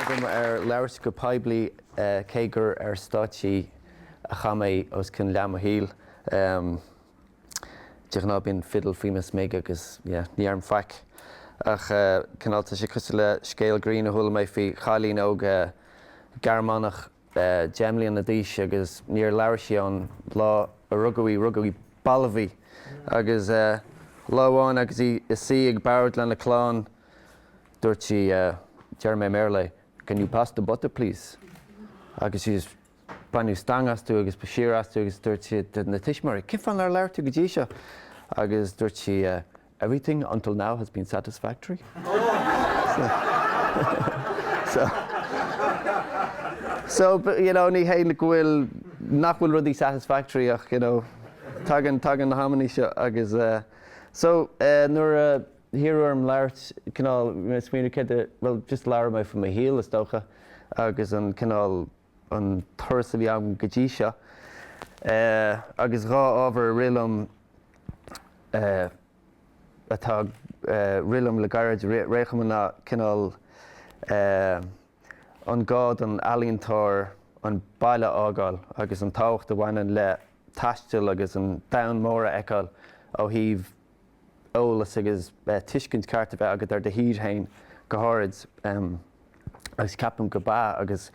agam ar labhairt go poiblí, cé gur ar stáitse a chaith mé os cionn leath mo shaoil. De ghnáth bíonn fiddle faoi mo smig agus yeah, ní dheirim faic. Ach cineál tá sé cosúil le scéal grinn a chuala mé faoi chailín óg Gearmánach, deich mbliana d'aois agus níor labhair sí ón ló a rugadh í. Rugadh í, balbh í agus lá amháin agus í i suí ag bord lena clann dúirt sí, déarfaidh mé i mBéarla é, Can you pass the butter please? Agus sí just, baineadh stangadh astu agus ba siar astu agus dúirt siad, na tuismitheoirí, Cén fáth nár labhair tú go dtí seo? Agus dúirt sí, Everything until now has been satisfactory. So, you know, ní hé go bhfuil, nach bhfuil rudaí satisfactory ach, you know, tagann, tagann na hamannaí seo agus eh. So, eh, nuair a hiarradh orm labhairt, cineál, bhí mé ag smaoineamh céard a, bhuel, just labhróidh mé faoi mo shaol, is dócha, agus an cineál, an turas a bhí agam go dtí seo agus dhá ábhar a rialaíonn atá ag rialú orm le gairid, réchumadh ná cineál an gá don ealaíontóir an baile a fhágáil agus an tábhacht a bhaineann le taisteal agus an domhan mór a fheiceáil ó thaobh eolas agus tuiscint ceart a bheith agat ar do thír féin go háirid agus ceapaim go mb'ea agus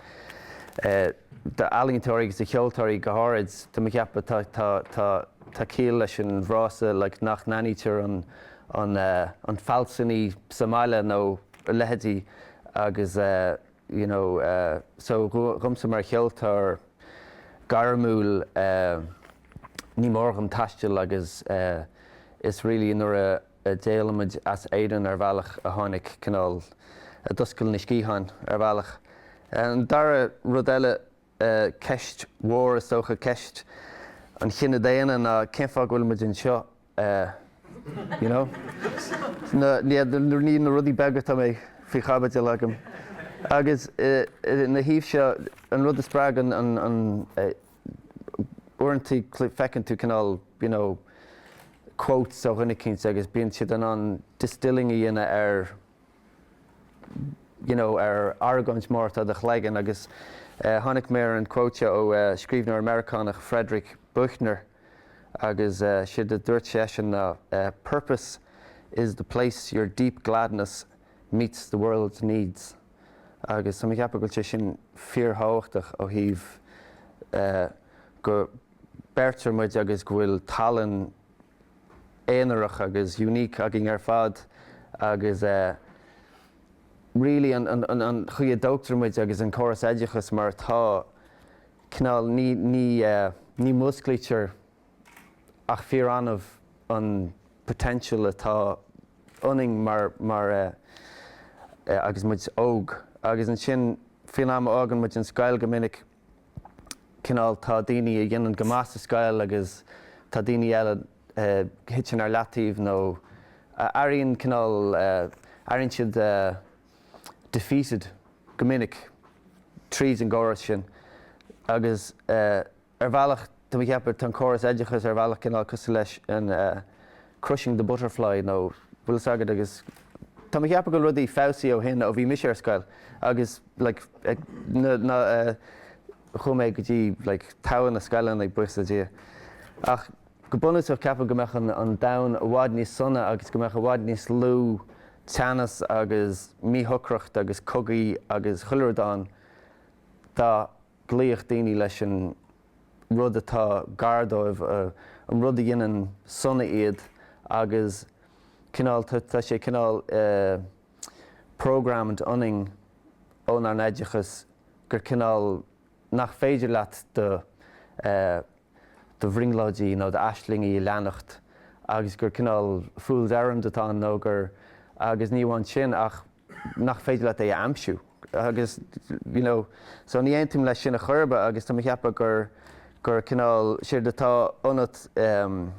do ealaíontóirí agus do cheoltóirí go háirid tá mé ag ceapadh tá tá tá tá ciall leis an bhfrása like nach n-aithnítear an an an fealsúnaí sa mbaile nó a leithéidí agus eh. you know, so dhomsa mar cheoltóir gairmiúil ní mór dhom taisteal agus is really nuair a d'éalaigh muid as Éirinn ar bhealach a tháinig cineál, a d'oscail na sciatháin ar bhealach. An dara rud eile Ceist mhór is dócha ceist an chine daonna ná cén fáth go bhfuil muid anseo, you know? Ní na rudaí beaga atá faoi chaibidil agam. Agus ina thaobh seo, an rud a spreagann an, uaireanta feiceann tú cineál, you know, quotes ó dhuine eicínt agus bíonn siad in ann distilling a dhéanamh ar, you know, ar argóint mhór atá i do chloigeann agus tháinig mé ar an quote seo ó scríbhneoir Meiriceánach Frederick Buechner agus séard a dúirt seisean ná purpose is the place your deep gladness meets the world's needs agus tá mé ag ceapadh go bhfuil sé sin fíorthábhachtach ó thaobh go beirtear muid agus go bhfuil tallann aonarach agus unique againn ar fad agus really an chaoi a dtógtar muid agus an córas oideachais mar atá, cineál ní, ní, ní mhúsclaítear ach fíor-annamh an potential atá ionainn mar, mar agus muid óg agus ansin faoin am a fhágann muid an scoil go minic, cineál, tá daoine a dhéanann go maith sa scoil agus tá daoine eile a thiteann ar leataobh nó a airíonn cineál, airíonn siad defeated go minic tríd an gcóras sin agus ar bhealach, Tá mé ag ceapadh, tá an córas oideachais ar bhealach cineál cosúil leis an crushing the butterfly nó bhfuil fhios agat agus tá mé ag ceapadh go bhfuil rudaí feabhsaithe ó shin ó bhí mise ar scoil agus like na na chuaigh mé go dtí like togha na scoileanna buíochas le Dia ach go bunúsach ceapaim go mbeadh an an domhan i bhfad níos sona agus go mbeadh i bhfad níos lú teannas agus míshocracht agus cogaí agus chuile rud ann dá gcloífeadh daoine leis an rud atá gar dóibh, an rud a dhéanann sona iad agus cineál, tá sé cineál programmed ionainn ónár n-oideachas gur cineál nach féidir leat do do bhrionglóidí nó d'aislingí a leanacht agus gur cineál fool's errand atá ann nó gur agus ní amháin sin ach nach féidir leat é a aimsiú agus you know so ní aontaím leis sin a chor ar bith agus tá mé a cheapadh gur gur cineál séard atá ionat em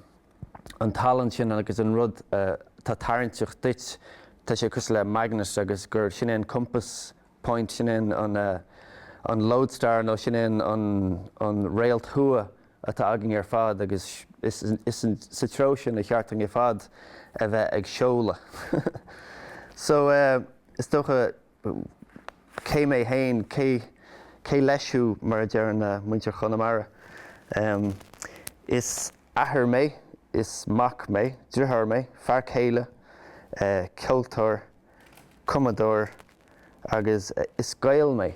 an tallann sin agus an rud atá tarraingteach duit tá sé cosúil le magnet agus gur sin é an compass point sin é an an eh an lodestar nó sin é an an an réalt thuaidh atá againn ar fad agus is sa treo sin ar cheart dúinn ar fad a bheith ag seoladh. So, is dócha, cé mé fhéin, cé cé leis thú mar a deireann muintir Chonamara. Is athair mé, is mac mé, dritháir mé, fear céile, ceoltóir, cumadóir agus is Gael mé.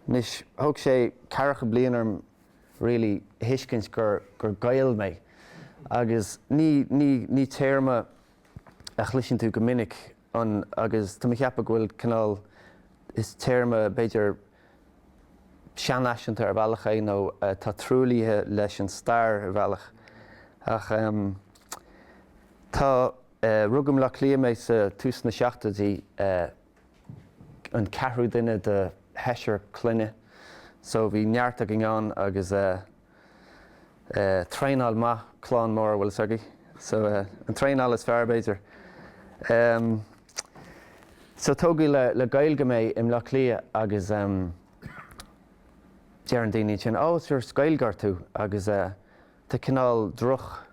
Anois, thóg sé ceathracha bliain orm really, a thuiscint gur, gur Gael mé. Agus ní, ní, ní téarma a chloiseann tú go minic an, agus tá mé a cheapadh go bhfuil cineál, is téarma b'fhéidir seanfhaiseanta ar bhealach é nó atá truaillithe leis an stair ar bhealach. Ach ehm tá eh, rugadh i mBleá Cliath mé sa, tús na seachtóidí eh, an ceathrú duine de sheisear clainne so bhí neart againn ann agus traenáil maith, clann mór, an bhfuil 'fhios agaibh so an traenáil is fearr, b'fhéidir. So tógadh le Gaeilge mé i mBleá Cliath agus deireann daoine ansin, 'Ó, is Gaeilgeoir tú' agus tá cineál droch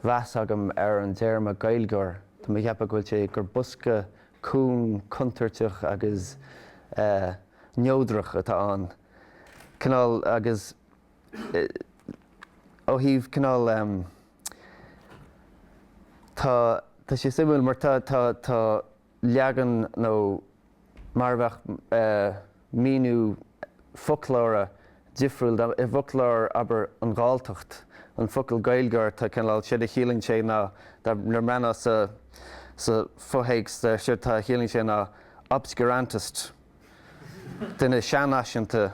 mheas agam ar an dtéarma 'Gaeilgeoir', tá mé a cheapadh go bhfuil sé, gur bosca cúng, contúirteach agus neodrach atá ann, cineál, agus ó thaobh, cineál, tá, tá sé suimiúil mar tá leagan nó mar a bheadh míniú foclóra difriúil i bhfoclóir, abair, an Ghalltacht, an focal Gaeilgeoir, tá cineál, séard a chiallaíonn sé ná, nuair a bhreathnaíos sa fho-théacs, séard atá a chiallaíonn sé ná obscurantist, duine seanfhaiseanta,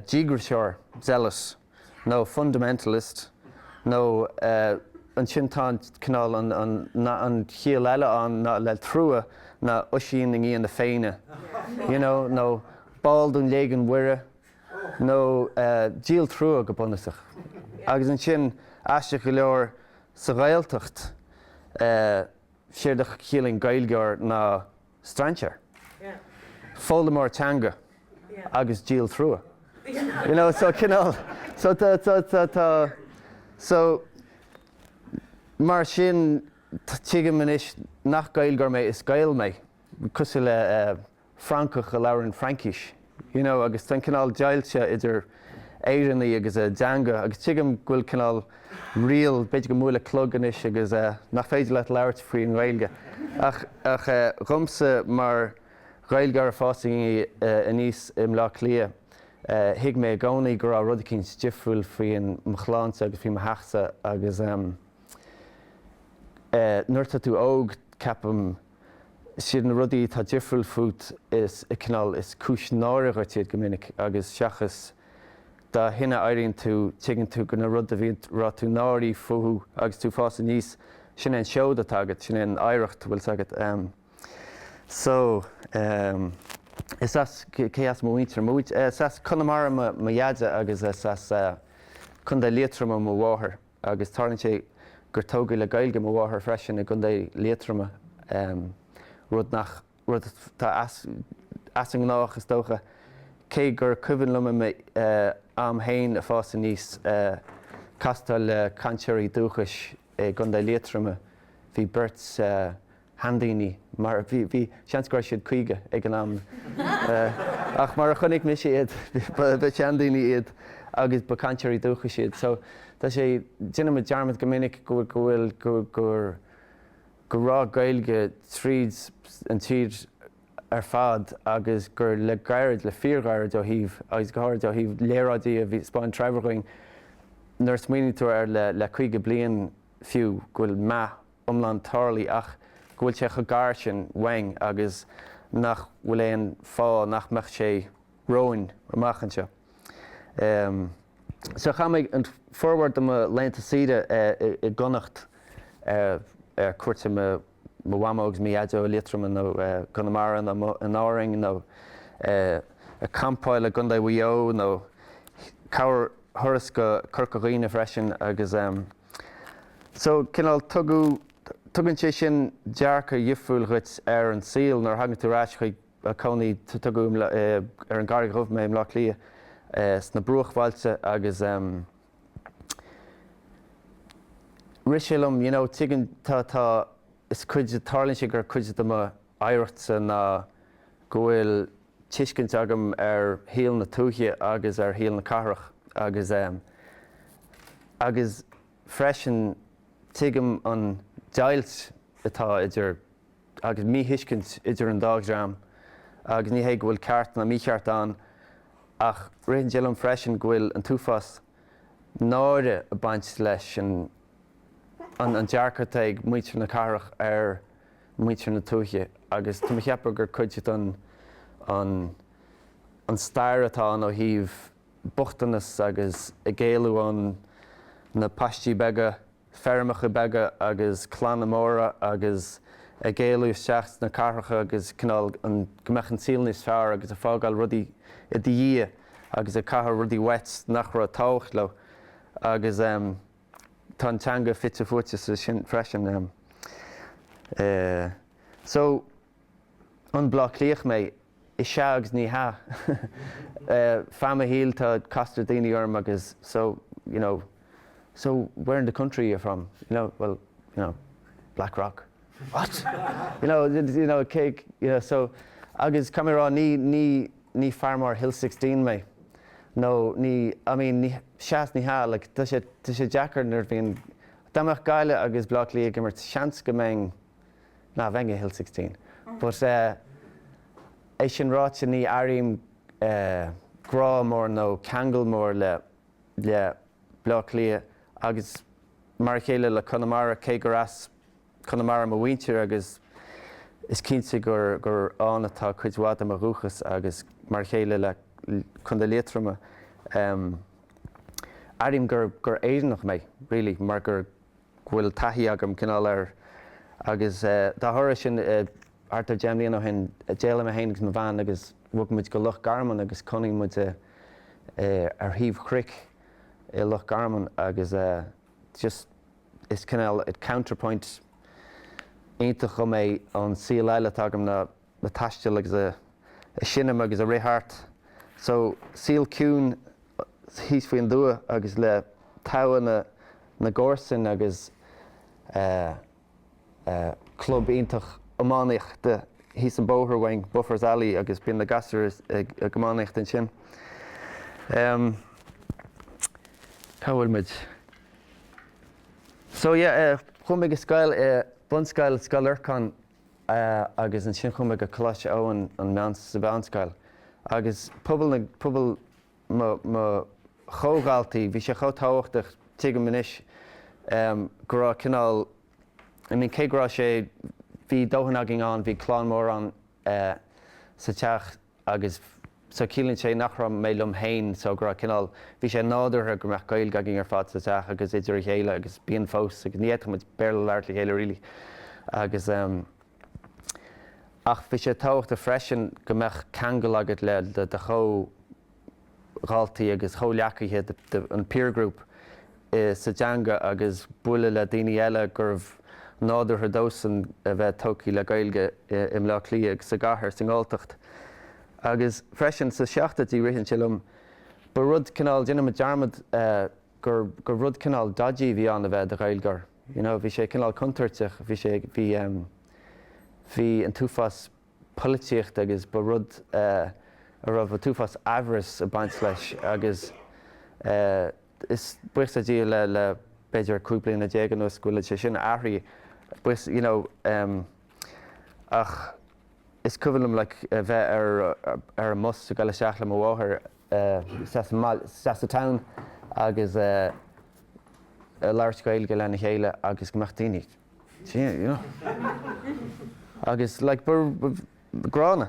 díograiseoir, zealot. nó fundamentalist, nó ansin tá an cineál, an chiall eile ann ná le trua ná Oisín i ndiaidh na Féinne, you know, nó ball de Léigiún Mhuire, nó díol trua go bunúsach. Agus ansin, aisteach go leor, sa Ghaeltacht, séard a chiallaíonn Gaeilgeoir ná strainséir, foghlaimeoir teanga agus díol trua. You know, so cineál, so mar sin tuigim anois nach Gaeilgeoir mé, is Gael mé, cosúil le Francach a labhraíonn Fraincis. you know agus tá an cineál deighilt idir Éireannaigh agus a dteanga agus tuigim go bhfuil cineál riail, b'fhéidir go mbuailfidh clog anois agus eh nach féidir leat labhairt faoin nGaeilge ach, ach eh dhomsa mar Ghaeilgeoir ag fás aníos i mBleá Cliath eh thuig mé i gcónaí go raibh rud eicínt difriúil faoi mo chlannsa agus faoi mo theachsa agus ehm eh nuair atá tú óg ceapaim Is iad na rudaí atá difriúil fút is cineál is cúis náire dhuit iad go minic agus seachas dá shine a éiríonn tú, tuigeann tú go na rudaí a mbíonn, a raibh tú náirithe fúthu agus tú ag fás aníos, sin é an seoid atá agat, sin é an oidhreacht, an bhfuil 'fhios agat. So, is as, cé as mo mhuintir? Mo mhuintir, is as Conamara mo dheaide agus is as Contae Liatroma mo mháthair. agus tarlaíonn sé gur tógadh le Gaeilge mo mháthair freisin i gContae Liatroma, rud nach, rud atá as, as an ngnách is dócha, cé gur cuimhin liom i m'am fhéin ag fás aníos castáil le cainteoirí dúchais i gContae Liatroma, bhí beirt, sheandaoine, mar bhí seans go raibh siad caoga ag an am, ach mar a chonaic mise iad, ba sheandaoine iad agus ba chainteoirí dúchais iad. So tá sé, déanaimid dearmad go minic go bhfuil, gur, go raibh Gaeilge tríd an tír ar fad agus gur le gairid, le fíorghairid ó thaobh, agus go háirid ó thaobh léaráidí a bhí, 'spáin Treabhair dhúinn nuair a smaoiníonn tú air le caoga bliain fiú, go bhfuil meath. iomlán tarlaithe ach go bhfuil sé cho gar sin uainn agus nach bhfuil aon fáth nach mbeadh sé romhainn amach anseo. So, chaith muid an formhór de mo laethanta saoire i gConnacht ar cuairt ar mo Mhamó agus mo Dhaideo i Liatroim nó i gConamara nó in Árainn nó ag campáil i gCondae Mhaigh Eo nó corrthuras go Corca Dhuibhne freisin agus So, cineál, tugann sé sin dearcadh difriúil dhuit ar an saol nuair a thagann tú ar ais chuig cónaí, tógadh ar an gCarraig Dhubh mé i mBleá Cliath, sna bruachbhailte agus ehm rith sé liom, you know, tuigeann, tá, tá, is cuid, tarlaíonn sé gur cuid de mo oidhreachtsa ná go bhfuil tuiscint agam ar shaol na tuaithe agus ar shaol na cathrach agus agus freisin tuigim an deighilt atá idir agus míthuiscint idir an dá dhream agus ní hé go bhfuil ceart ná mícheart ann ach ritheann sé liom freisin go bhfuil an t-uafás náire ag baint leis an dearcadh atá ag muintir na cathrach ar muintir na tuaithe agus tá mé ag ceapadh gur cuid den an an stair atá ann ó thaobh bochtanas agus ag éalú ó na paistí beaga, feirmeacha beaga agus clanna móra agus ag éalú isteach sna cathracha agus cineál an go mbeadh an saol níos fearr agus ag fágáil rudaí i do dhiaidh agus ag caitheamh rudaí uait nach raibh tábhacht leo agus. tá an teanga fite fuaite ansin freisin. So an Bleá Cliach mé? Is ea agus ní hea. Feadh mo shaoil tá castar daoine orm agus so, you know, so where in the country are you from? You know, well, you know, Blackrock. What? You know, you know, cé, you know, so agus tá mé ag rá, ní, ní, ní fear mór Hill Sixteen mé nó ní, I mean, ní, sheas, ní hea, like, tá sé, tá sé deacair nuair a bhíonn, dá mbeadh Gaillimh agus Bleá Cliath ag imirt, seans go mbeinn, nah, bheinn i Hill Sixteen, but eh é sin ráite ní airím eh grá mór nó ceangal mór le, le Bleá Cliath agus mar a chéile le Conamara cé gur as, Conamara mo mhuintir agus is cinnte gur ann atá cuid mhaith de mo dhúchas agus mar a chéile le Co. Liatroma. Airím gur Éireannach mé, really, mar gur, go bhfuil taithí agam, cineál, ar agus dá thoradh sin, thart ar deich mbliana ó shin, d'éalaigh mé féin agus mo bhean agus bhog muid go Loch Garman agus cónaíonn muid ar thaobh chnoic i Loch Garman agus, just, is cineál, a counterpoint iontach dhom é ón saol eile atá agam ná ag taisteal agus ag seinm agus ag rith thart. So, saol ciúin thíos faoin dtuath agus le togha na gcomharsan agus eh, club iontach iománaíochta thíos an bóthar uainn, Buffers Alley, agus bíonn na gasúir ag iománaíocht ansin. Cá bhfuil muid? So yeah, chuaigh mé go scoil, bunscoil Scoil Lorcáin agus ansin chuaigh mé go Coláiste Eoin, an meán, sa mheánscoil. Agus pobal na, pobal. mo, mo chomhdhaltaí, bhí sé chomh tábhachtach, tuigim anois, go raibh cineál, I mean, cé go raibh sé, bhí dóthain againn ann, bhí clann mór ann sa teach agus so ciallaíonn sé nach raibh mé liom féin, so go raibh cineál, bhí sé nádúrtha go mbeadh Gaeilge againn ar fad sa teach agus idir a chéile agus bíonn fós agus ní fhéadfadh muid Béarla labhairt le chéile really agus. Ach bhí sé tábhachtach freisin go mbeadh ceangal agat le do chomhdhaltaí agus chomhghleacaithe, an peer group, sa teanga agus bualadh le daoine eile gurbh nádúrtha dósan a bheith tógtha le Gaeilge i mBleá Cliath, sa gcathair, sa nGalltacht. Agus freisin, sa seachtóidí, ritheann sé liom, ba rud cineál, déanaim dearmad, gur, gur rud cineál dodgy a bhí ann a bheith i do Ghaeilgeoir, you know, bhí sé cineál contúirteach, bhí sé, bhí, bhí an t-uafás polaitíochta agus ba rud a raibh an t-uafás aimhreas ag baint leis agus is, buíochas le Dia le, le b'fhéidir cúig bliana déag anuas go bhfuil sé sin athraithe, buíochas, you know, ach is cuimhin liom like a bheith ar, ar an mbus ag goil isteach le mo mháthair, sea sa town agus ag labhairt Gaeilge lena chéile agus go mbeadh daoine sea you know agus like ba gránna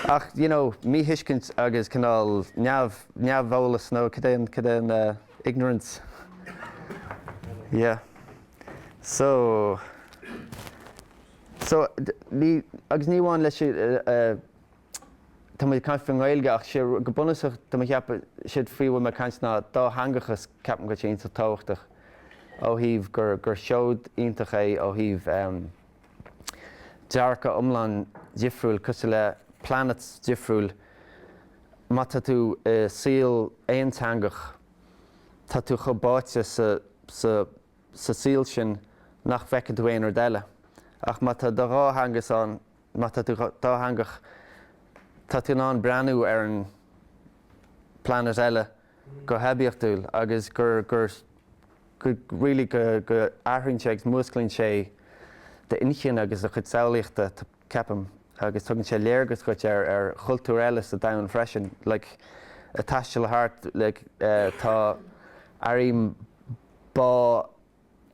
ach you know míthuiscint agus cineál neamh neamheolas nó cad é cad é an ignorance yeah so so ní agus ní amháin leis tá muid ag caint faoin nGaeilge ach sé, go bunúsach, tá mé ag ceapadh, séard faoi a bhfuil mé ag caint ná dátheangachas, ceapaim go bhfuil sé iontach tábhachtach ó thaobh gur, gur seod iontach é ó thaobh em. dearcadh iomlán difriúil, cosúil le planet difriúil, má tá tú i saol aonteangach, tá tú chomh báite sa, sa, sa saol sin nach bhfeiceann tú aon rud eile ach má tá do dhá theanga's ann, Má tá tú dátheangach, tá tú in ann breathnú ar an bplainéad eile go hoibiachtúil agus gur really go athraíonn sé agus músclaíonn sé d'inchinn agus do chuid samhlaíochta, ceapaim, agus tugann sé léargas duit ar chultúr eile sa domhan freisin. Like, ag taisteal thart, like, tá, airím bá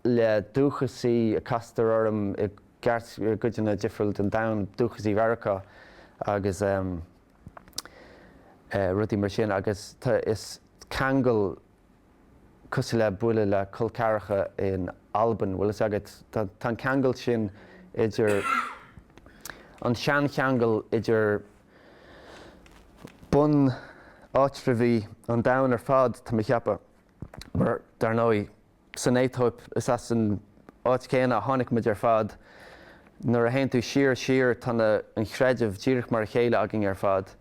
le dúchasaí a castar orm i gceart i gcodanna difriúla den domhan, dúchasaí Mheiriceá agus rudaí mar sin agus tá is ceangal cosúil le bualadh le col ceathracha in Albain, bhfuil fhios agat, tá an ceangal sin idir, an seancheangal idir bunáitreabhaigh an domhain ar fad, tá mé a cheapadh. Mar, dar ndóigh, san Aetóip, is as an áit chéanna a tháinig muid ar fad. Nuair a théann tú siar, siar, tá na, an chreideamh díreach mar a chéile againn ar fad.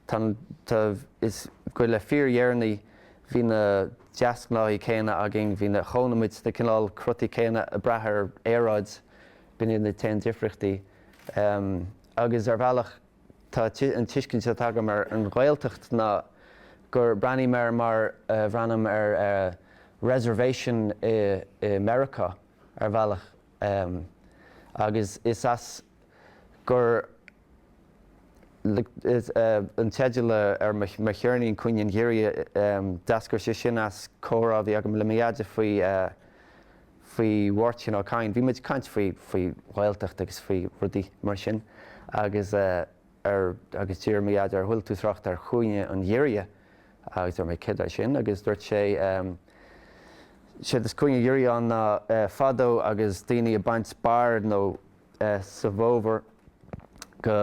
Tá, tá, is go le fíordheireanaí, bhí na deasghnáthaí céanna againn, bhí na, chónaigh muid sna cineál crotaí céanna a brath ar aeráid, b'in iad na t-aon difríochtaí. Agus, ar bhealach, Tá an tuiscint atá agam ar an Ghaeltacht ná gur breathnaím air mar a bhreathnaím ar reservation i Meiriceá, ar bhealach, agus is as, gur an teideal ar mo cheirnín, Cúinne an Ghiorria, d'eascair sé sin as comhrá a bhí agam le mo dheaide faoi faoi Mháirtín Ó Cadhain, bhí muid ag caint faoi, faoi Ghaeltacht agus faoi rudaí mar sin agus eh, ar, agus dúirt mo dheaide, ar chuala tú trácht ar chúinne an Ghiorria agus dúirt mé céard é sin agus dúirt sé ehm, séard is cúinne an ghiorria ann ná eh, fadó agus daoine ag baint barr nó eh, sa bhfómhar go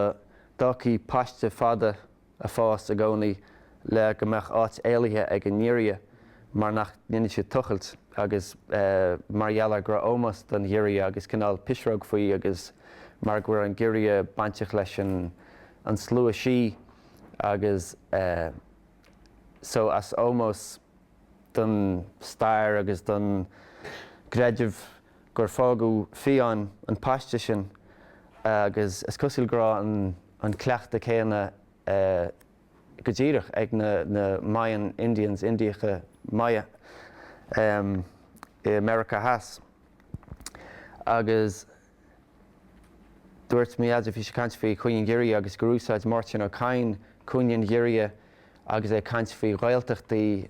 bhfágfaí paiste fada a fás i gcónaí le go mbeadh áit éalaithe ag an ngiorria mar nach ndéanann siad tochailt agus mar gheall ar go raibh ómós don ghiorria agus cineál pisreog faoi agus mar go raibh an giorria bainteach leis an slua sí agus so as ómós don stair agus don gcreideamh gur fágadh fiáin an paiste sin agus is cosúil go raibh an. an cleachtadh céanna go díreach ag na Mayan Indians, Indiacha Maya, i Meiriceá Theas. Agus dúirt Méabh, bhí sí ag caint faoi chúinne an ghiorria agus gur úsáid Máirtín Ó Cadhain cúinne an ghiorria agus é ag caint faoi Ghaeltachtaí,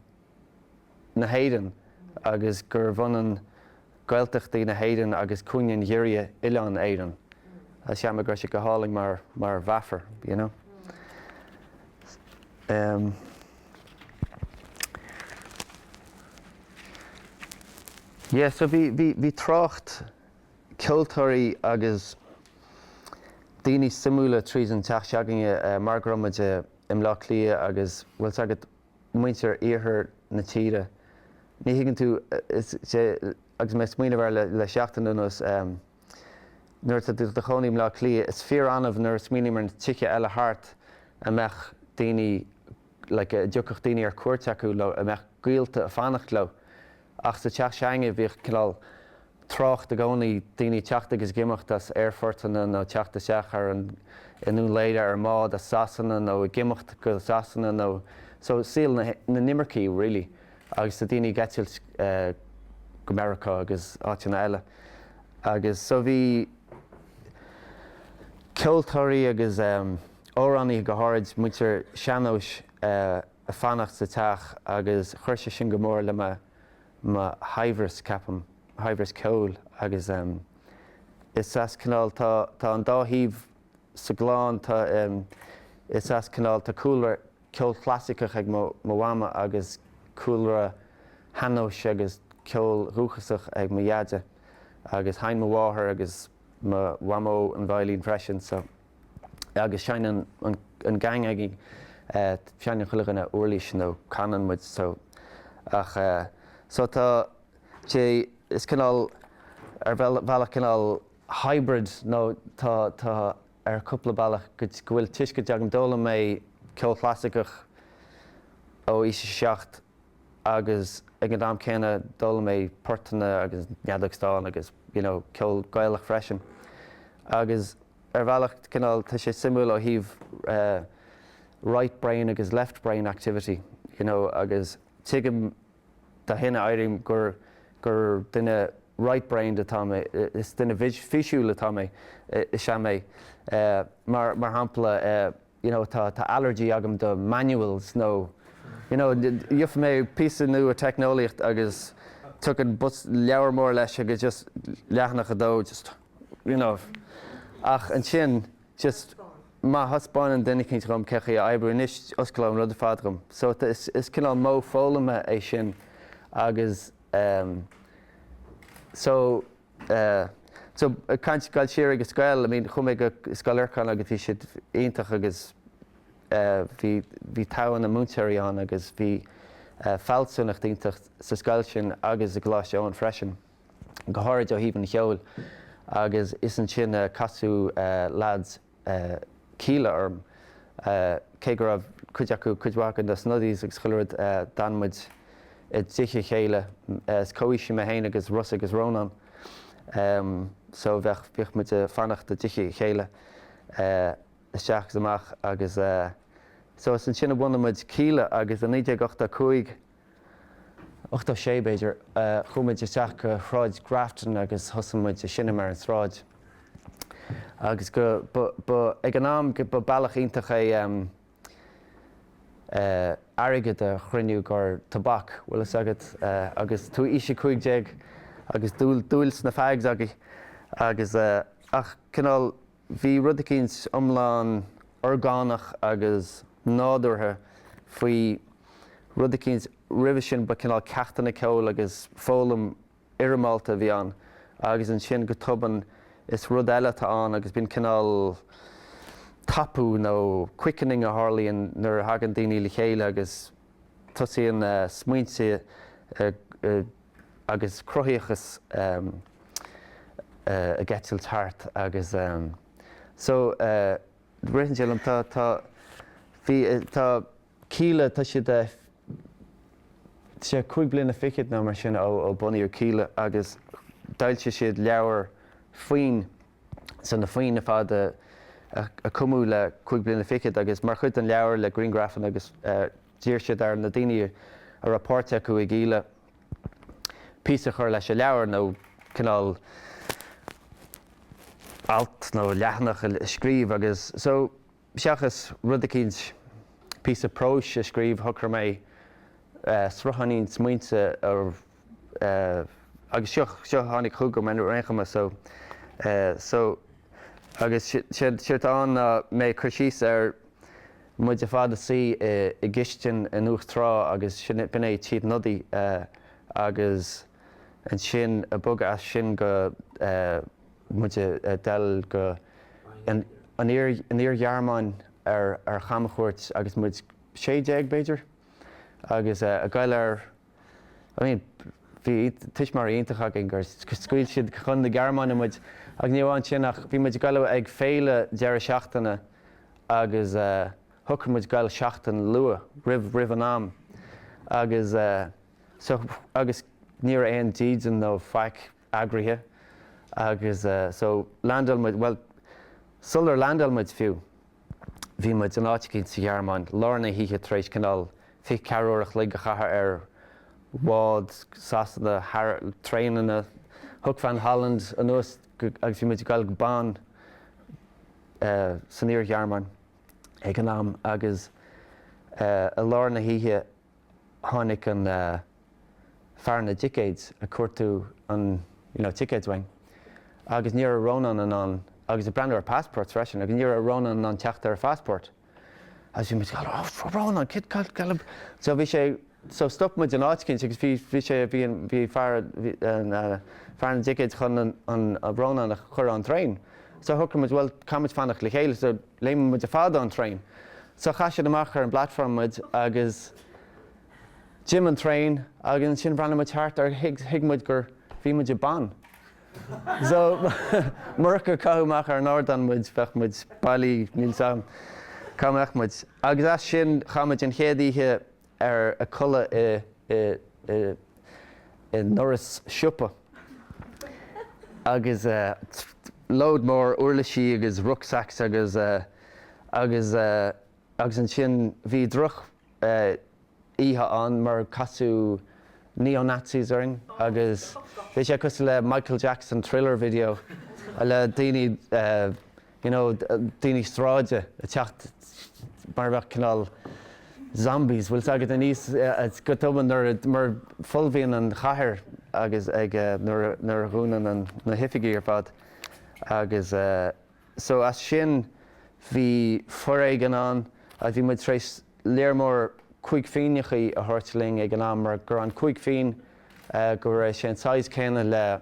na hÉireann agus gurbh ionann Gaeltachtaí na hÉireann agus cúinne an ghiorria oileán Éireann. Sea, sea, go raibh sé go hálainn mar, mar mheafar, you know. Em. Yeah, so bhí, bhí, bhí trácht ceoltóirí agus daoine suimiúla tríd an teach se'againne, eh, mar go raibh muid i mBleá Cliath agus, bhfuil 's agat, muintir iarthar na tíre. Ní thuigeann tú, is é, agus mé ag smaoineamh air le seachtain anuas, nuair atá tú i do chónaí i mBleá Cliath, is fíor-annamh nuair a smaoiním ar na tithe eile thart a mbeadh daoine, like, a dtiocfadh daoine ar cuairt chucu nó a mbeadh gaolta ag fanacht leo. Ach sa teach se'againne bhíodh cineál trácht i gcónaí, daoine ag teacht agus ag imeacht as aerphortanna nó ag teacht isteach ar an i nDún Laoghaire ar an mbád as Sasana nó ag imeacht go Sasana nó so saol na n-imirceach really agus tá daoine ag eitilt go Meiriceá agus áiteanna eile agus so bhí ceoltóirí agus amhránaithe go háirid, muintir sean-nóis a. a fanacht sa teach agus chuir sé sin go mór le mo shaibhreas, ceapaim, mo shaibhreas ceoil agus is as cineál, tá an dá thaobh sa gclann, tá, is as cineál, tá cúlra ceoil chlasaiceach ag mo mhama agus cúlra shean-nóis agus ceol dhúchasach ag mo dheaide agus sheinn mo mháthair agus mo mhamó an veidhlín freisin so. agus seinneann an geaing againn, seinneann chuile dhuine uirlís nó canann muid so ach so tá sé, is cineál, ar bhealach cineál hybrid nó tá, tá ar chúpla bealach go bhfuil tuiscint agam, d'fhoghlaim mé ceol chlasaiceach ó aois a seacht agus ag an am céanna d'fhoghlaim mé portanna agus an fheadóg stáin agus you know ceol Gaelach freisin agus Ar bhealach, cineál, tá sé suimiúil ó thaobh right brain agus left brain activity, you know, agus tuigim dó sin, airím gur, gur duine right brained atá mé, is duine físiúil atá mé, is ea mé. Mar, mar shampla, you know, tá, tá allergy agam do manuals nó, you know, gheobhaidh mé píosa nua teicneolaíocht agus tagann leabhar mór leis agus just leathanach a dó just. you know. Ach ansin, just má thaispeánann duine eicínt dhom cén chaoi é a oibriú, anois osclaíonn an rud ar fad dhom. So is cineál modh foghlama é sin agus ehm so eh so ag caint goil siar go dtí an scoil, I mean chuaigh mé go Scoil Lorcáin agus bhí siad iontach agus eh bhí bhí togha na múinteoirí ann agus bhí eh fealsúnacht iontach sa scoil sin agus i gColáiste Eoin freisin. go háirid ó thaobh an cheoil, agus is ansin a casadh leaids Kíla orm, cé go raibh cuid acu, cuid mhaith acu, na Snuddies agus chuile rud, d'fhan muid i dtigh a chéile, is comhaoisigh mé féin agus Rossa agus Rónán, so bheadh, bhíodh muid a' fanacht i dtithe a chéile isteach is amach agus so is ansin a bhunaigh muid Kíla agus i 1985, 86, b'fhéidir, chuaigh muid isteach go Sráid Grafton agus thosaigh muid ag seinm ar an tsráid. Agus go, ba, ba, ag an am, go, ba bealach iontach é em eh airgead a chruinniú gur tobac, bhfuil fhios agat, eh agus tú aois a cúig déag agus dúil, dúil sna fags agaibh agus eh ach cineál, Bhí rud eicínt iomlán orgánach agus nádúrtha faoi rud eicínt roimhe sin, ba cineál ceachtanna ceoil agus foghlaim fhoirmeálta a bhí ann agus ansin go tobann is rud eile atá ann agus bíonn cineál tapú nó quickening a tharlaíonn nuair a thagann daoine le chéile agus tosaíonn smaointe ag agus cruthaíochas ag eitilt thart agus so ritheann sé liom tá tá bhí tá Kíla tá siad is é cúig bliana fichead nó mar sin ó ó bunaíodh Kíla agus d'fhoilsigh siad leabhar foinn so na foinn ar fad a a cumadh le cúig bliana fichead agus mar chuid den leabhar le griangrafanna agus D'iarr siad ar na daoine a raibh páirt acu i gKíla píosa a chur leis an leabhar nó cineál alt nó leathanach a scríobh agus so seachas rud eicínt, píosa próis a scríobh shocraigh mé srutháinín smaointe a. agus seo seo tháinig chugam ar aon chuma so so agus séard séard tá ann ná mé ag cur síos ar muid ar fad a suí i i gcistin in uachtar tí agus sin b'in é Tigh Snoddy agus ansin ag bogadh as sin go muid a a dul go an an iar an iar-Ghearmáin ar ar camchuairt agus muid sé déag b'fhéidir agus a ghoil ar I mean, bhí tuismitheoirí iontacha againn gur scaoil siad chun na Gearmáine muid agus ní amháin sin ach bhí muid ag goil ag féile deireadh seachtaine agus shocraigh muid goil seachtain luath, roimh, roimh an am agus so agus ní raibh aon dídean nó faic eagraithe agus so landáil muid, bhuel, sular landáil muid fiú. Bhí muid in áit eicínt sa Ghearmáin lár na hoíche tar éis cineál fiche ceathair uair a chloig a chaitheamh ar bhád Sasana traenanna Hoek van Holland anuas agus bhí muid ag gabháil go Bonn san Iar-Ghearmáin ag an am agus i lár na hoíche tháinig an fear na dticéads ag cuartú an you know ticéads uainn agus ní raibh Rónán in ann agus ag breathnú ar passport freisin agus ní raibh Rónán in ann teacht ar a phassport agus bhí muid ag goil oh Rónán kid cad cad ab so bhí sé so stop muid in áit eicínt agus bhí bhí sé bhí an bhí fear an fear na dticéads chun an an Rónán a chur ón traein. So shocraigh muid, bhuel, caithfidh muid fanacht le chéile, so léimfidh muid ar fad ón traein. So chaith siad amach ar an bplatform muid agus d'imigh an traein agus ansin bhreathnaigh muid thart agus thuig muid gur, bhí muid i mBonn. So murach gur caitheadh amach ar an ardán muid, bheadh muid bailithe, níl 's agam cá mbeadh muid. Agus as sin, chaith muid an chéad oíche ar ag codladh i ndoras siopa agus lód mór uirlisí agus rucksacks agus agus agus ansin bhí drochoíche ann mar casadh neo-nazis orainn agus bhí sé cosúil le Michael Jackson Thriller video le daoine you know daoine sráide ag teacht mar a bheadh cineál zombies bhfuil fhios agat aníos go tobann nuair a mar folmhaíonn an chathair agus ag nuair a nuair a dhúnann an na hoifigí ar fad agus so as sin bhí foréigean ann a bhí muid tar éis lear mór cúig phingineachaí a thabhairt linn ag an am mar go raibh an cúig phingin go raibh sé an size céanna le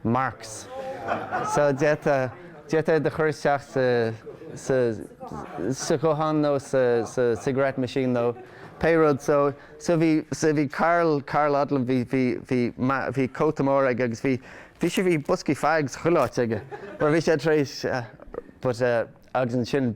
marks so d'fhéadfá iad a chur isteach sa ghuthán nó sa cigarette machine nó pé rud so so bhí so bhí Karl Karl Odlum bhí bhí bhí bhí cóta mór aige agus bhí bhí sé bhí boscaí fags chuile áit aige mar bhí sé tar éis but agus ansin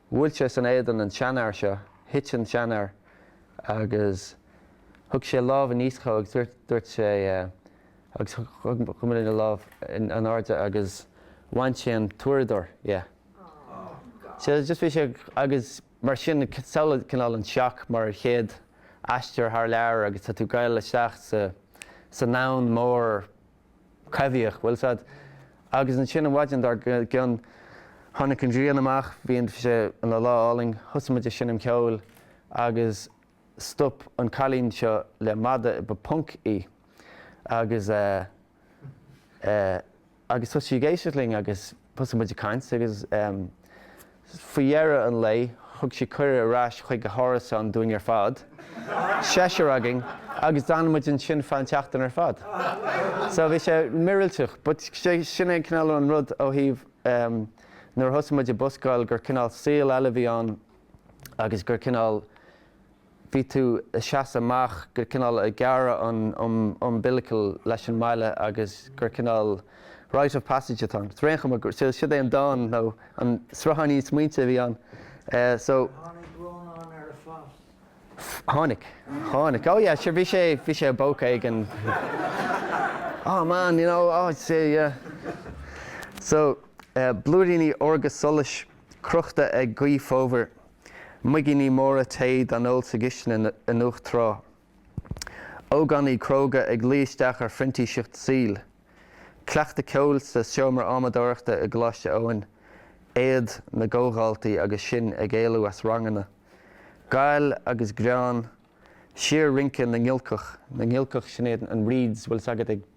Bhuail sé san éadan an seanfhear seo, thit an seanfhear agus thug sé lámh aníos dhó agus dúirt, dúirt sé, agus chuir mo dhuine a lámh in airde agus bhain sé an t-uaireadóir dhe. So just bhí sé, agus mar sin samhlaigh cineál an seac mar chéad aistear thar lear agus tá tú ag gabháil isteach sa sa ndomhan mór Coimhthíoch, bhfuil 's agat, agus ansin an mhaidin dár gcionn tháinig an ghrian amach, bhí sé ina lá álainn, thosaigh muid ag seinm ceoil agus stop an cailín seo le mada, ba punk í, agus eh, eh, agus thosaigh sí ag éisteacht linn agus thosaigh muid ag caint agus ehm, Faoi dheireadh an lae, thug sí cuireadh ar ais chuig a hárasán dúinn ar fad, seisear againn, agus d'fhan muid ansin feadh an tseachtain ar fad. So, bhí sé míorúilteach, but sin é an cineál, an rud ó thaobh ehm, nuair a thosaigh muid ag buscáil gur cineál saol eile a bhí ann agus gur cineál, bhí tú ag seasamh amach gur cineál ag gearradh an umbilical leis an mbaile agus gur cineál rite of passage atá ann. Is ar aon chuma gur siod é an dán nó an srutháinín smaointe a bhí ann so. Tháinig Rónán ar a phas. Tháinig. Tháinig. Oh yeah, sure, bhí sé, bhí sé i bpóca éigin. Oh man, you know, oh, yeah. So, Blúiríní Órga Solais. crochta ag gaoth fhómhair, muigíní móra tae dá n-ól sa gcistin i nDumhach Thrá, ógánaigh cróga ag luí isteach ar phrintíseacht saoil, cleachtadh ceoil sa seomra adhmadóireachta i gColáiste Eoin, éad na gcomhdhaltaí agus sinn ag éalú as ranganna, gail agus greann, síor-rince na ngiolcach, na ngiolcach, sin iad an reeds a bhfuil 's agat ag.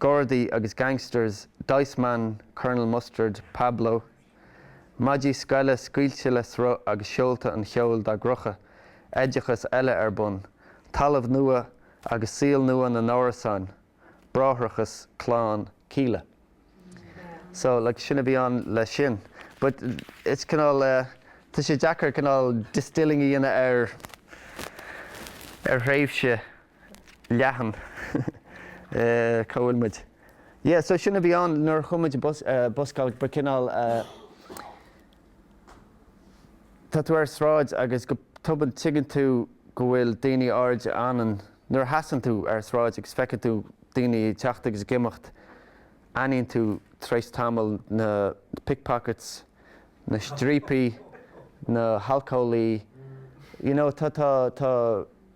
Gardaí agus gangsters, Diceman, Colonel Mustard, Pablo. Maidí scoile scaoilte le sruth agus seolta an cheoil dá gcrochadh, oideachas eile ar bun, talamh nua agus saol nua na n-árasáin, bráithreachas clann Kíla. So, like, sin a bhí ann le sin. But it's cineál eh, tá sé deacair cineál distilling a dhéanamh ar, ar thréimhse. leathan. Cá bhfuil muid? Yeah, so sin a bhí ann nuair a chuaigh muid ag buscáil ba cineál tá tú ar sráid agus go tobann tuigeann tú go bhfuil daoine áirithe ann nuair a sheasann tú ar sráid agus feiceann tú daoine ag teacht agus ag imeacht aithníonn tú tar éis tamaill na pickpockets, na striapaigh, na halcólaigh, you know, tá, tá, tá.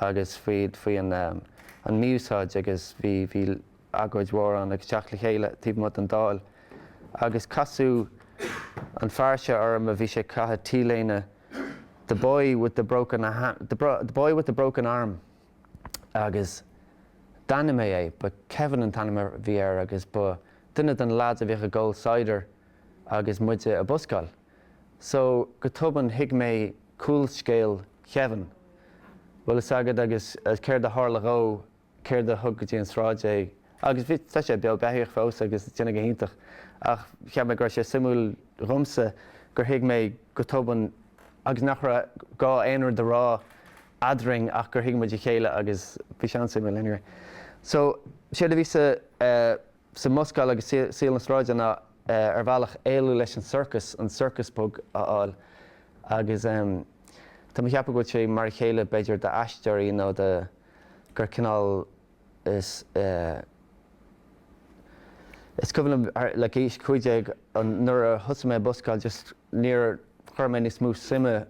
agus faoi faoi an an mí-úsáid agus bhí bhí agóid mhór ann agus teacht le chéile taobh amuigh den Dáil agus casadh an fear seo orm a bhí sé caitheamh T-léine the boy with the broken a hand the bro the boy with the broken arm agus d'aithnigh mé é ba Kevin an t-ainm a bhí air agus ba duine de na lads a bhíodh ag ól cider agus muide ag buscáil. So, go tobann thuig mé cúlscéal Kevin. Bhfuil fhios agad agus céard a tharla dhó, céard a thug go dtí an tsráid é, agus bhí, tá sé beo, beathaíoch fós agus déanamh go hiontach, ach cheap mé go raibh sé suimiúil dhomsa gur thuig mé go tobann agus nach raibh gá aon rud a rá eadrainn ach gur thuig muid a chéile agus bhí sé an-suimiúil anyway. So, séard a bhí sa Sa mbuscáil agus saol na sráide ná ar bhealach éalú leis an circus, an circus bug a fháil agus tá mé a cheapadh go bhfuil sé mar a chéile b'fhéidir d'aisteoirí nó do gur cineál is is cuimhin liom like aois cúig déag an nuair a thosaigh mé ag buscáil just níor chuir mé níos mó suime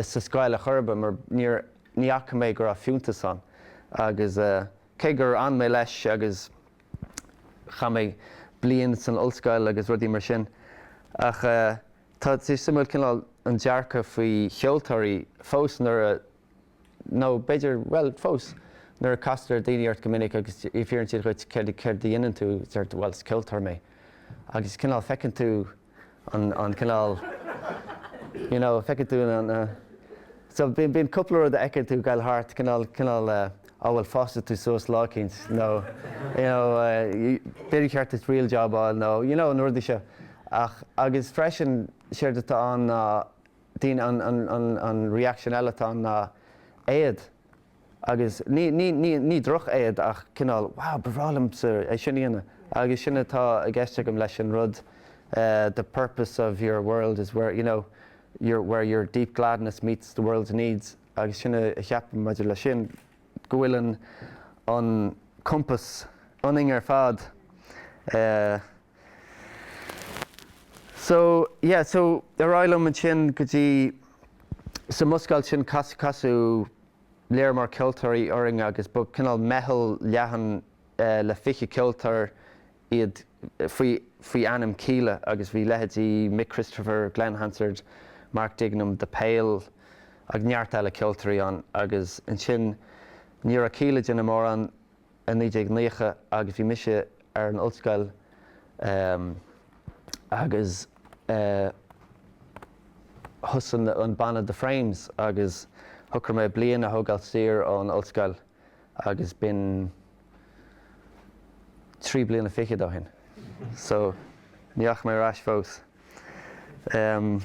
sa scoil ar chor ar bith mar níor ní fhaca mé go raibh fiúntas ann agus Cé gur fhan mé leis agus chaith mé bliain san ollscoil agus rudaí mar sin, ach tá sé suimiúil cineál an dearcadh faoi cheoltóirí fós nuair a, nó b'fhéidir, bhuel, fós, nuair a castar daoine ort go minic agus fiafraíonn siad dhuit céard a dhéanann tú, deir tú bhuel is ceoltóir mé agus cineál feiceann tú, an cineál you know feiceann tú na na so bíonn cúpla rud a fheiceann tú goil thart cineál cineál ah bhuel fásfaidh tú suas lá éicint nó you know b'fhéidir cheart duit real job fháil nó you know na rudaí seo ach agus freisin séard atá ann ná daoine an an an an reaction eile atá ann ná éad. Agus ní drochéad ach cineál, wow, ba bhreá liomsa é sin a dhéanamh. Agus sin atá i gceist agam leis an rud the purpose of your world is where, you know, your, where your deep gladness meets the world's needs. Agus sin a cheapaim maidir leis sin, go bhfuil an compass ionainn ar fad. So, yeah, so, ar aghaidh liom ansin go dtí, sa mbuscáil sin casadh, casadh lear mór ceoltóirí orainn agus ba cineál meitheal leathan le fiche ceoltóir iad faoi, faoi ainm Kíla agus bhí leithéidí Mic Christopher, Glen Hansard, Mark Dignam, The Pale agus neart eile ceoltóirí ann agus ansin ní raibh Kíla déanamh mórán i 1990 agus bhí mise ar an ollscoil agus thosaigh an banna The Frames agus shocraigh mé bliain a thógáil saor ón ollscoil agus b'in trí bliana fichead ó shin, so ní dheachaigh mé ar ais fós. Um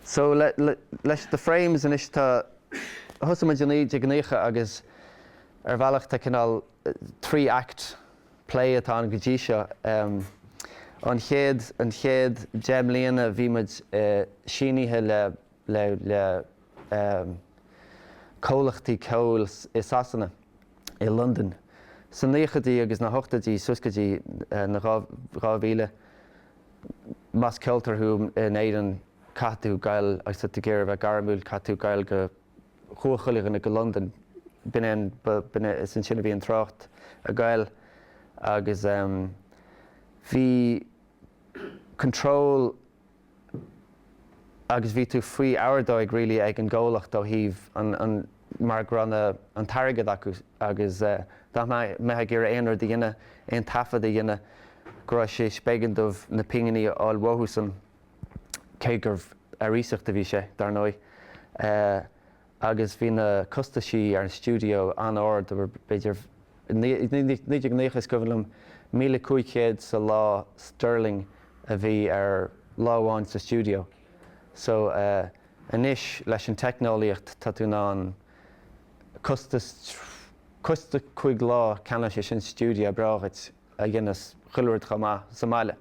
so le, le, leis The Frames anois tá, thosaigh muid i 1990 agus ar bhealach tá cineál three act play atá ann go dtí seo. Um an chéad, an chéad deich mbliana bhí muid eh sínithe le le comhlachtaí ceoil i Sasana, i Londain, sna naochaidí agus na hochtaidí suas go dtí na 2000. Más ceoltóir thú in Éirinn caithfidh tú gabháil, agus tá tú ag iarraidh a bheith gairmiúil, caithfidh tú gabháil go, chuaigh chuile dhuine go Londain. B'in é an, is ansin a bhí an trácht ag gabháil agus bhí control, agus bhí tú faoi ordóig really ag an gcomhlacht ó thaobh an mar go raibh na an t-airgead acu agus dá mbeifeá ag iarraidh aon rud a dhéanamh, aon taifead a dhéanamh go raibh sé b'éigean dóibh na pinginí a fháil uathusan cé gurbh ar iasacht a bhí sé, dar ndóigh. agus bhí na costaisí ar an stiúideo an-ard, b'fhéidir, i 1990 is cuimhin liom, míle cúig chéad sa lá sterling a bhí ar lá amháin sa stiúideo. So, anois, leis an teicneolaíocht, tá tú in ann costas, costas cúig lá, ceannóidh sé sin stiúideo breá dhuit a dhéanfas chuile rud chomh maith sa mbaile.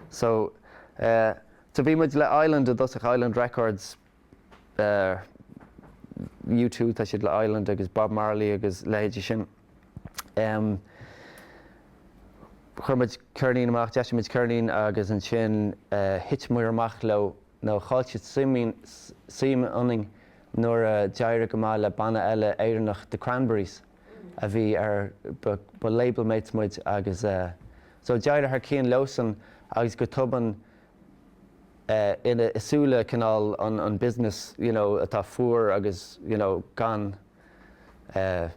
So, so bhí muid le Island i dtosach, Island Records, ar U2, tá siad le Island agus Bob Marley agus leithéidí sin. Chuir muid ceirnín amach, d'eisigh muid ceirnín agus ansin thiteamar amach leo nó chaill siad suim ionainn nuair a d'éirigh go maith le banna eile Éireannach, The Cranberries, a bhí ar, ba label mates muid agus so d'éirigh thar cionn leosan agus go tobann, ina, i súile cineál an an business, you know, atá fuar agus, you know, gan, eh,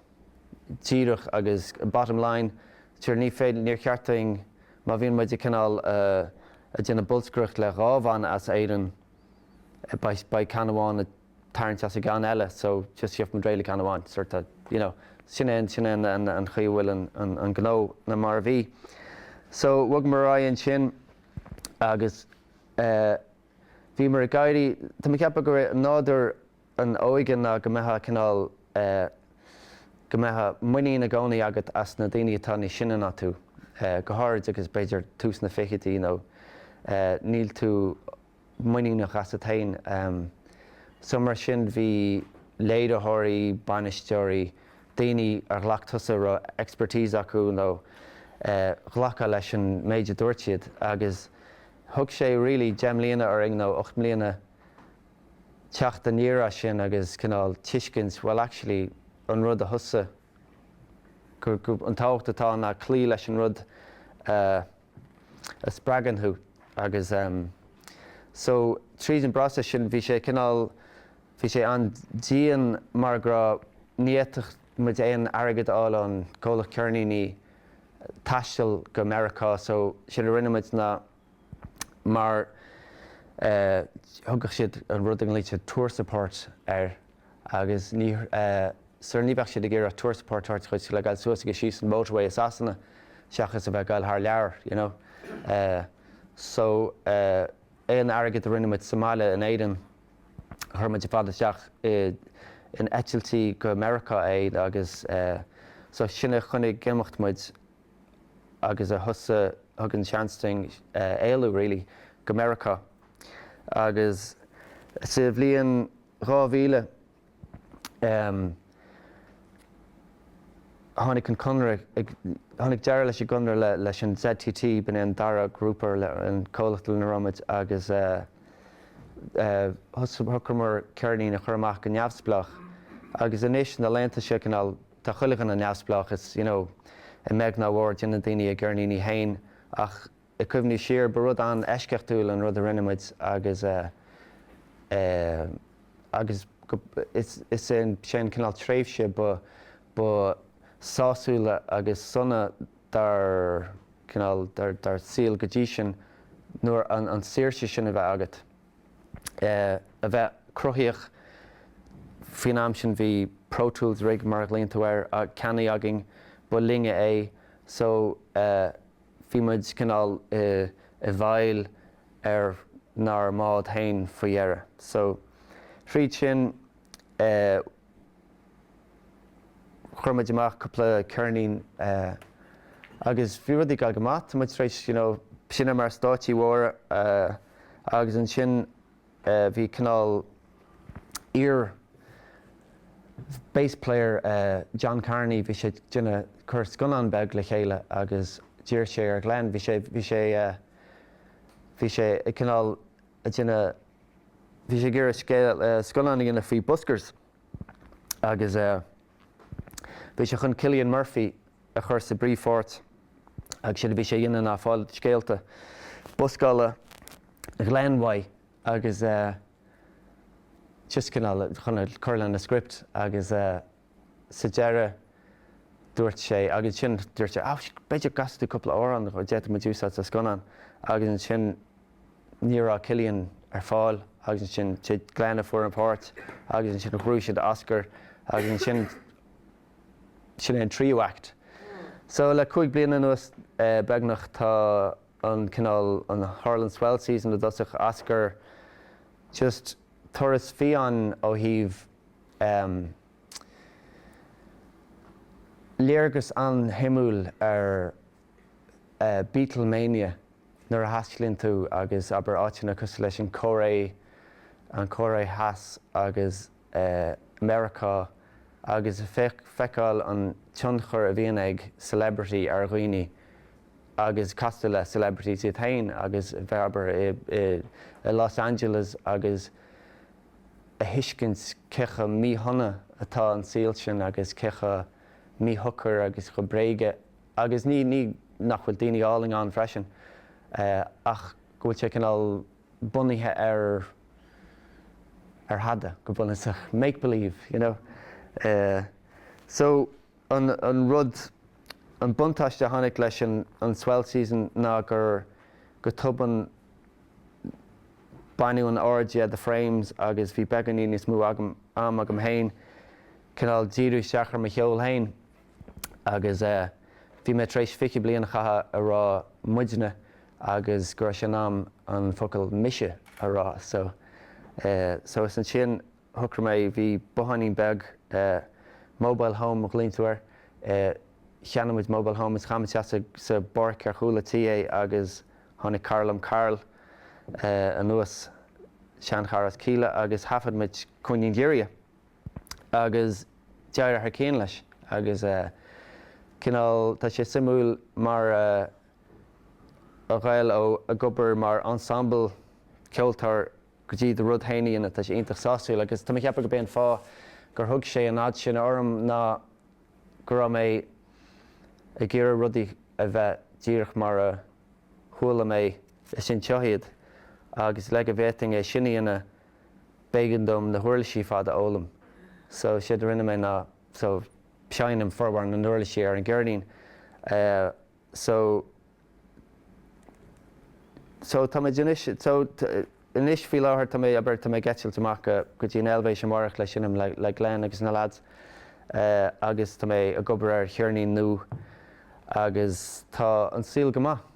díreach agus bottom line, sure ní féidir, níor cheart duinn má bhíonn muid ag cineál, eh, ag déanamh bolscaireacht le dhá bhanna as Éirinn, beidh, beidh ceann amháin ag tarraingt as an gceann eile so just gheobhaidh muid réidh le ceann amháin sort of, you know, sin é an, sin é an an an chaoi a bhfuil an an an gnó nó mar a bhí. So bhogamar ar aghaidh ansin. agus bhíomar ag éirí, táim ag ceapadh gur é nádúr an óige ná go mbeifeá cineál, go mbeadh muinín i gcónaí agat as na daoine atá níos sine ná tú, go háirid agus b'fhéidir tús na fichidí nó níl tú, muiníneach asat féin. So mar sin, bhí léiritheoirí, bainisteoirí, daoine ar ghlac tusa a raibh expertise acu, nó ghlac tú leis an méid a dúirt siad agus thug sé really deich mbliana orainn, nó ocht mbliana, teacht aniar as sin agus cineál tuiscint, bhuel actually, an rud a thosaigh, an tábhacht atá ann ná cloí leis an rud a spreagann thú agus so tríd an bpróiseas sin bhí sé cineál, bhí sé an-dian mar go raibh, ní fhéadfadh muid aon airgead a fháil ón gcomhlacht ceirníní taisteal go Meiriceá so sin a rinne muid ná mar thugadh siad an rud a nglaoití tour support air, agus ní sar a ní bheadh siad ag iarraidh tour support ort a chaith le gabhail suas agus síos an motorway i Sasana seachas a bheith ag gabhail thar lear so aon airgead a rinne muid sa mbaile in Éirinn chuir muid ar fad isteach in eitiltí go Meiriceá agus so sin a choinnigh ag imeacht muid agus a thosaigh a thug an seans duinn éalú really go Meiriceá agus sa bhliain 2000, tháinig an conradh, tháinig deireadh leis an gconradh leis an ZTT, b'in é an dara grúpa, an comhlacht lena raibh muid, agus shocraíomar ceirnín a chur amach go neamhspleách. Agus anois, na laethanta seo, cineál, tá chuile dhuine ina neamhspleách, is, a bheag nó a mhór, déanann daoine a gceirníní fhéin, ach, I gcuimhní siar, ba rud an-eisceachtúil an rud a rinne muid agus agus is sin cineál tréimhse ba sásúla agus sona dár cineál, dár dár saol go dtí sin nuair an an saoirse sin a bheith agat, a bheith cruthaitheach. Faoin am sin bhí Pro Tools Rig mar a ghlaonn tú air, ceannaithe againn, ba linne é so, Bhí muid cineál i bhfeighil ar nár mbád féin faoi dheireadh. So, tríd sin, chuir muid amach cúpla ceirnín agus bhí rudaí ag dul go maith. Tá muid tar éis seinm ar stáitsí móra agus ansin, Bhí cineál iar bass player John Carney, bhí sé ag dul ag cur scannán beag le chéile agus d'iarr sé ar Glen, bhí sé, bhí sé, bhí sé ag cineál ag déanamh, bhí sé ag iarraidh scéal, scannán a dhéanamh faoi buskers agus. Bhí sé chun Cillian Murphy a chur sa bpríomhpháirt agus séard a bhí sé a dhéanamh ná fáil scéalta buscála Ghlen uaidh agus é just cineál chun a chur lena script agus sa deireadh dúirt sé, agus ansin dúirt sé, ah, b'fhéidir go gcasfaidh tú cúpla amhrán a d'fhéadfadh muid a úsáid sa scannán agus ansin. ní raibh Cillian ar fáil agus ansin is é Glen a fuair an pháirt agus ansin ghnóthaigh siad Oscar agus ansin sin é an tríú act. So le cúig bliana anuas beagnach tá an cineál an tharla an Swell Season i dtosach, Oscar just turas fiáin ó thaobh ehm léargas an-shuimiúil ar Beatlemania, nuair a thaistealaíonn tú agus abair áiteanna cosúil leis an Chóiré Theas agus Meiriceá agus feiceáil an tionchar a bhíonn ag celebrity ar dhaoine agus castáil le celebrities iad féin agus bheith abair i Los Angeles agus a thuiscint cé chomh míshona atá an saol sin agus cé chomh míshocair agus chomh bréige Agus ní nach bhfuil daoine álainn ann freisin, ach go bhfuil sé cineál bunaithe ar, ar thada, go bunúsach. Make believe, you know. So, an, an rud, an buntáiste a tháinig leis an, an Swell Season ná gur, go tobann, baineadh an aird dhe The Frames agus bhí beagáinín níos mó am agam fhéin cineál díriú isteach ar mo cheol fhéin. agus bhí mé tar éis fiche bliain a chaitheamh a rá 'muidne' agus go raibh sé in am an focal 'mise' a rá so so is ansin shocraigh mé, bhí botháinín beag, mobile home a ghlaonn tú air, cheannaigh muid mobile home is chaith muid isteach sa bpáirc ar chúl a' tí é agus tháinig cara liom, Karl, anuas, seanchara as Kíla agus thaifead muid 'Cúinne an Ghiorria'. agus deartháir Cinn leis, agus cineál, tá sé suimiúil mar a ghabháil ó ag obair mar ensemble ceoltóir go dtí do rud fhéin a dhéanamh, tá sé iontach sásúil agus tá mé ag ceapadh gurb é an fáth gur thug sé an fhad sin orm ná go raibh mé ag iarraidh rudaí a bheith díreach mar a chuala mé, i mo chloigeann iad agus le go bhféadfainn é sin a dhéanamh, b'éigean dom na huirlisí ar fad a fhoghlaim. So, séard a rinne mé ná, so, seinnim formhór na n-uirlisí ar an gceirnín. So, so tá mé anois, so, anois, faoi láthair, tá mé, abair, tá mé ag eitilt amach go, go dtí an Eilvéis amárach le seinm le, le Glen agus na lads agus tá mé ag obair ar cheirnín nua agus tá an saol go maith.